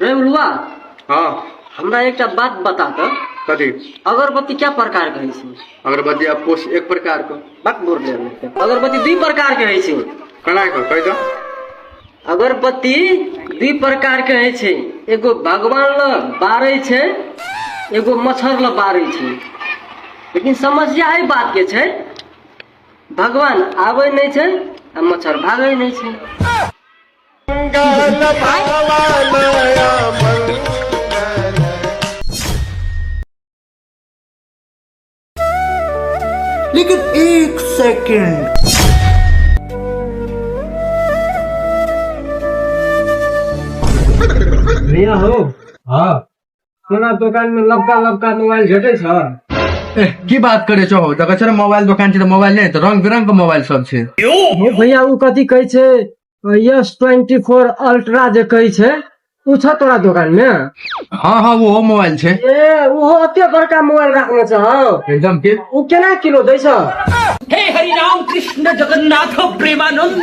रे उलुआ हाँ हमरा एकटा बात बता त कथी अगरबत्ती क्या प्रकार के होइ छै अगरबत्ती अब कोश एक प्रकार को बात बोल ले अगरबत्ती दू प्रकार के होइ छै कना को कह दो अगरबत्ती दू प्रकार के होइ छै एगो भगवान ल बारै छै एगो मच्छर ल बारै छै लेकिन समस्या एहि बात के छै भगवान आबै नहि छै आ मच्छर भागै नहि छै लेकिन एक सेकंड भैया हो हाँ सोना दोकान में लबका लबका मोबाइल भेटै छ ए, की बात करे छो हो देखै छो मोबाइल दोकान छै त मोबाइल नै त रंग बिरंग के मोबाइल सब छै हे भैया ऊ कथी कहै छै यस ट्वेंटी फोर अल्ट्रा जे कहै छै ऊ छ तोरा दोकान में हाँ हाँ वो मोबाइल छै ए ओहो एते बड़का मोबाइल राखने छ हौ एकदम के ऊ केना किलो दै छ हे हरि राम कृष्ण जगन्नाथ प्रेमानंद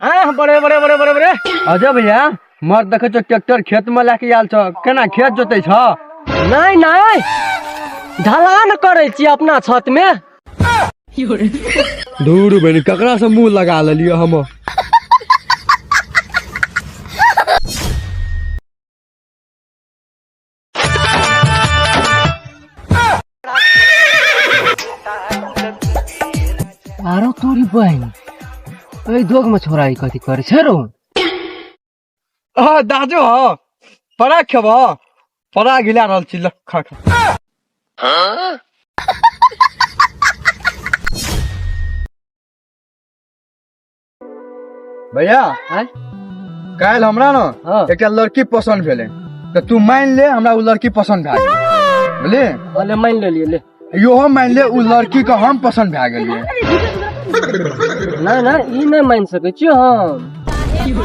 हाँ बड़े बड़े बड़े बड़े बड़े अजय भैया मर्द देखै छौ ट्रैक्टर खेत में लए के आयल छौ केना खेत जोतै छौ नहीं नहीं ढलान करे छी अपना छत में धूर बहिन ककरा से मुंह लगा लेलियो हम आरो तोरी बहन ए दोग में छोरा ई कथी करे छै रो आ दाजो हो परा खेब परा गिला रहल छी लख भैया आँय? काल्हि हमरा ने हँ। एकटा लड़की पसन्द भेलै तऽ तू मानि ले हमरा ओ लड़की पसन्द भए गेलै बुझलियै हँ, ले मानि लेलियै ले इहो मानि ले ओ लड़की के हम पसन्द भए गेलियै नहि नहि ई नहि मानि सकै छियै हम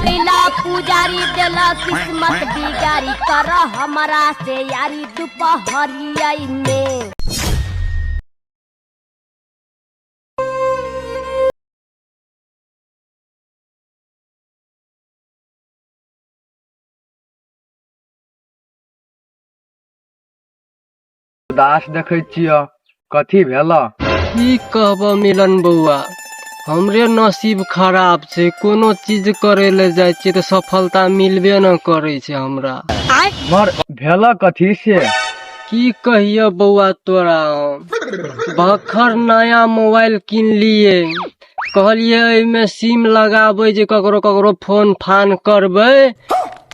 लीला पुजारी देला किस्मत बिगारी कर हमरा से यारी दुपहरिया में उदास देखै छियह कथी भेलह की कहबह मिलन बौआ हमरे नसीब खराब छै कोनो चीज करे ले जाइ छियै तऽ सफलता मिलबे न करै छै हमरा मर भेलह कथी से की कहियो बौआ तोरा हम बखर नया मोबाइल किनलिए कहलिए एहिमे सिम लगाबै जे ककरो ककरो फोन फान करबै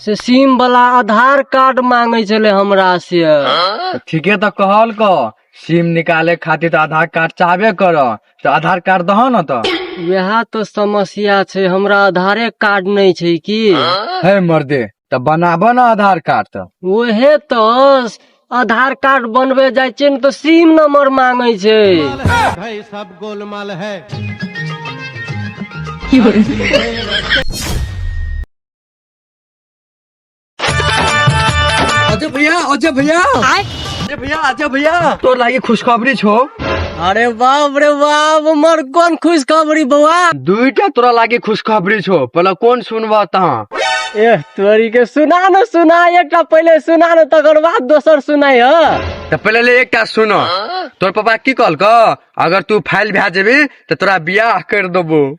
से सिम वाला आधार कार्ड मांगे छले हमरा से तऽ ठीके तऽ कहल कह सिम निकाले खातिर तऽ आधार कार्ड चाहबे कर तऽ आधार कार्ड दह ने तऽ वएह तो समस्या छै हमरा आधारे कार्ड नहि छै की हे मर्दे तऽ बनाबऽ ने आधार कार्ड तऽ ओहे तो आधार कार्ड बनबे जाइ छै ने तो सिम नंबर मांगे छै भाई सब गोलमाल है अजय भैया अजय भैया अजय भैया अजय भैया तो लागे खुशखबरी छो अरे बाप रे बाप हमर कोन खुशखबरी बौआ दुईटा तोरा लागे खुशखबरी छो पहले कौन सुनवा तहाँ ए तोरी के सुना न सुना एकटा पहिले सुना न तकर बाद दोसर सुनाई ह तो पहले ले एकटा सुनो तोर पापा की कहल क अगर तू फाइल भे जेबी तो तोरा बियाह कर देबो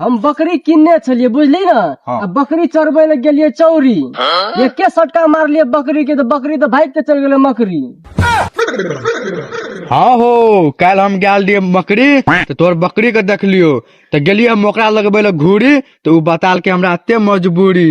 हम बकरी किनने छलिए बुझली ना हाँ। आ बकरी चरबै लए गेलिए चौरी एके सटका मारलिए बकरी के तो बकरी तो भाग के चल गेलै मकरी हाँ हो काल्हि हम गेल रहिए बकरी तऽ तोहर बकरी के देखलियो तऽ गेलिए हम ओकरा लगबै लए घूरी तऽ ओ बताल के हमरा एते मजबूरी